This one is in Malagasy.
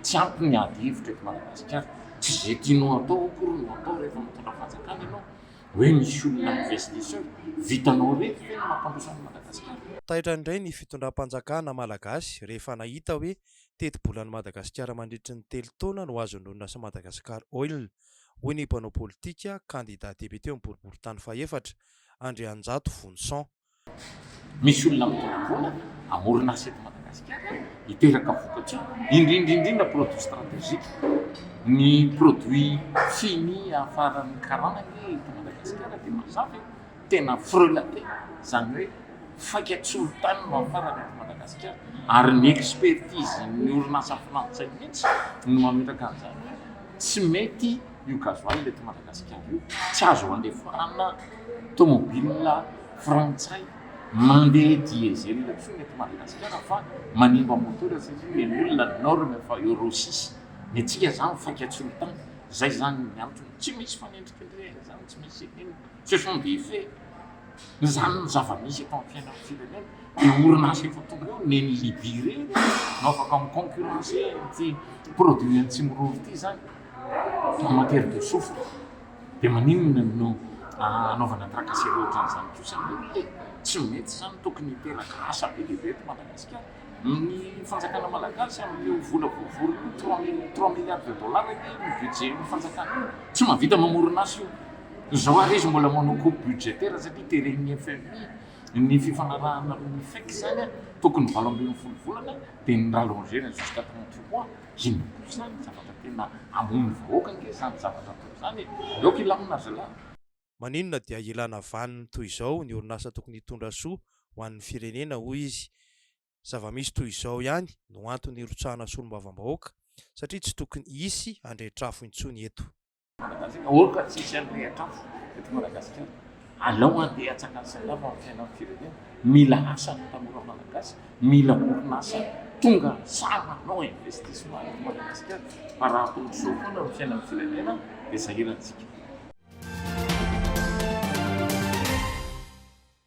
Tsy ampy ny ady hevitra eto Madagasikara, tsy izay tianao hatao akory no hatao rehefa mitondra fanjakana ianao, hoe misy olona investisseur, vitanao irery ve ny mampandroso an'i Madagasikara? Taitra indray ny fitondram-panjakana Malagasy rehefa nahita hoe tetibolan'i Madagasikara mandritry ny telo taona no azon'ny orinasa Madagascar Oil, hoy ny mpanao politika, kandida depiote amin'ny boriborintany fahefatra, Andrianjato Vonison. Misy olona mitondra vola hamorona asa eto Madagasikara, hiteraka vokatra, indrindra indrindra produits stratégiques. Ny produits fini afaran'ny karana anie eto Madagasikara dia mazava e, tena frelaté, izany hoe faika-tsolitany no afarana eto Madagasikara, ary ny expertise-n'ny orinasa frantsay mihitsy no mametraka an'izany hoe tsy mety Io gasoil eto Madagasikara io tsy azo andefarana tomobilina frantsay mandeha diesel intsony eto Madagasikara fa manimba moteur satria eny olona ny norme fa euro six ny antsika zany faikatsolitany zay zany ny antony tsy misy fanendrikendrehana zany tsy misy inona ce sont des faits zany ny zava-misy eto amin'ny fiainan'ny firenena de orinasa efa tonga eo neny Libye reny no afaka mi-concurrencer ity produit antsimo rony ity zany Maman Pierre de Souffle, dia maninona no anaovana tracasserie ohatran'izany kosa anie? Tsy mety izany, tokony hiteraka asa be dia be eto Madagasikara. Ny fanjakana malagasy amin'io vola voavory io, trois mille, trois milliards de dollars anie ny budget-n'ny fanjakana, tsy mahavita mamorona asa io. Izao ary izy mbola manao coupe budgétaire satria teren'ny FMI ny fifanarahana amin'ny FEC izany, tokony valo ambin'ny folo volana dia ni-rallonger-na jusqu'à trente mois. Inona kosa izany ny zavatra tena hamono vahoaka ange izany zavatra atao izany e! Aoka hilamina zalahy. Maninona dia ilana vaniny toy izao ny orinasa tokony hitondra soa ho an'ny firenena hoy izy. Zava-misy toy izao ihany no antony hirotsahana solombavambahoaka satria tsy tokony hisy handrehitr'afo intsony eto. Manam-pahaizana ôka tsy hisy hanirehitra afo eto Madagasikara. Alao handeha hatsangana salama amin'ny fiainan'ny firenena. Mila asa ny tanora Malagasy, mila orinasa tonga sahy manao investissement eto Madagasikara fa raha toy izao foana ny fiainan'ny firenena dia sahirana isika.